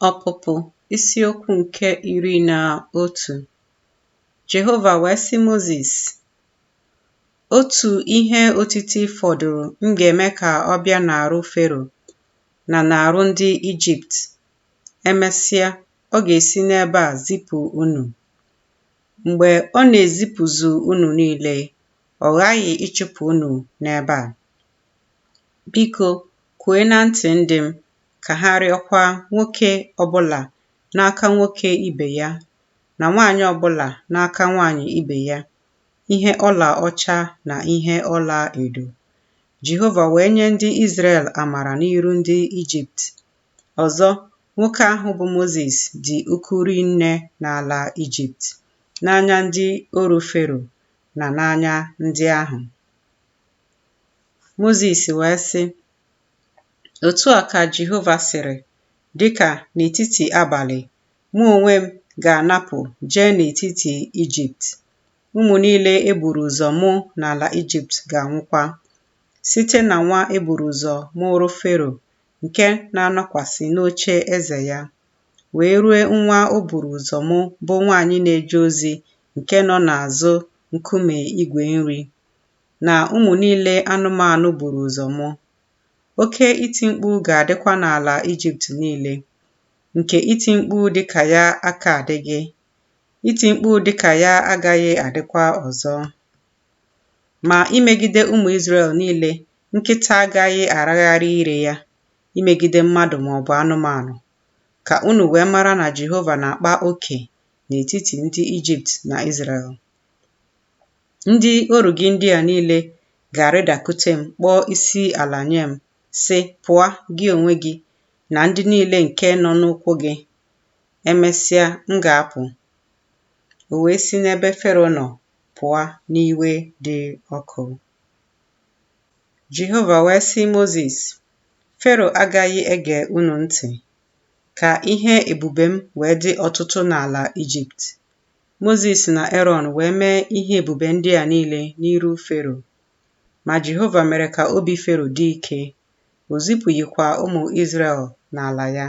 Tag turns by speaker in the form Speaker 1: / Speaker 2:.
Speaker 1: Ọpụpụ isiokwu nke iri na otu Jehova wee sị Mozis, Otu ihe otiti fọdụrụ m ga-eme ka ọ bịa n'arụ Fero na n'arụ ndị Ijipt, emesịa ọ ga-esi n'ebe a zipụ unu. Mgbe ọ na-ezipụzu unu niile, ọ ghaghị ịchụpụ unu n'ebe a. Biko, kwue na ntị ndị m, ka ha rịọkwa nwoke ọbụla n'aka nwoke ibe ya, na nwaanyị ọbụla n'aka nwaanyị ibe ya, ihe ọla ọcha na ihe ọla edo. Jehova wee nye ndị Izrel amara n'iru ndị Ijipt. Ọzọ, nwoke ahụ bụ Mozis dị uku ri nne n'ala Ijipt, n'anya ndị oru Fero na n'anya ndị ahụ. Mozis wee sị, Otu a ka Jehova sịrị, Dị ka n'etiti abalị, mụ onwe m ga na-apụ jee n'etiti Ijipt. Ụmụ niile e buru ụzọ mụ n'ala Ijipt ga-anwụkwa, site na nwa e buru ụzọ mụụrụ Fero nke na-anọkwasị n'oche eze ya, wee rue nwa o buru ụzọ mụ bụ nwaanyị na-eje ozi nke nọ n'azụ nkume igwe nri. na ụmụ niile anụmanụ buru ụzọ mụ. Oke iti mkpu ga-adịkwa n'ala Ijipt niile, nke iti mkpu dị ka ya aka adịghị, iti mkpu dị ka ya agaghị adịkwa ọzọ. Ma imegide ụmụ Izrel niile, nkịta agaghị aragharị ire ya imegide mmadụ ma ọ bụ anụmanụ, ka unu wee mara na Jehova na-akpa oke n'etiti ndị Ijipt na Izrel. Ndị oru gị ndị a niile ga-arịdakute m kpọọ isi ala nye m, sị, Pụa, gị onwe gị, na ndị niile nke nọ n'ụkwụ gị. Emesịa, m ga-apụ. O wee si n'ebe Fero nọ pụa n'iwe dị ọkụ. Jehova wee sị Mozis, Fero agaghị ege unu ntị, ka ihe ebube m wee dị ọtụtụ n'ala Ijipt, Mozis na Erọn wee mee ihe ebube ndị a niile n'iru Fero. Ma Jehova mere ka obi Fero dị ike, o zipụghịkwa ụmụ Izrel n'ala ya.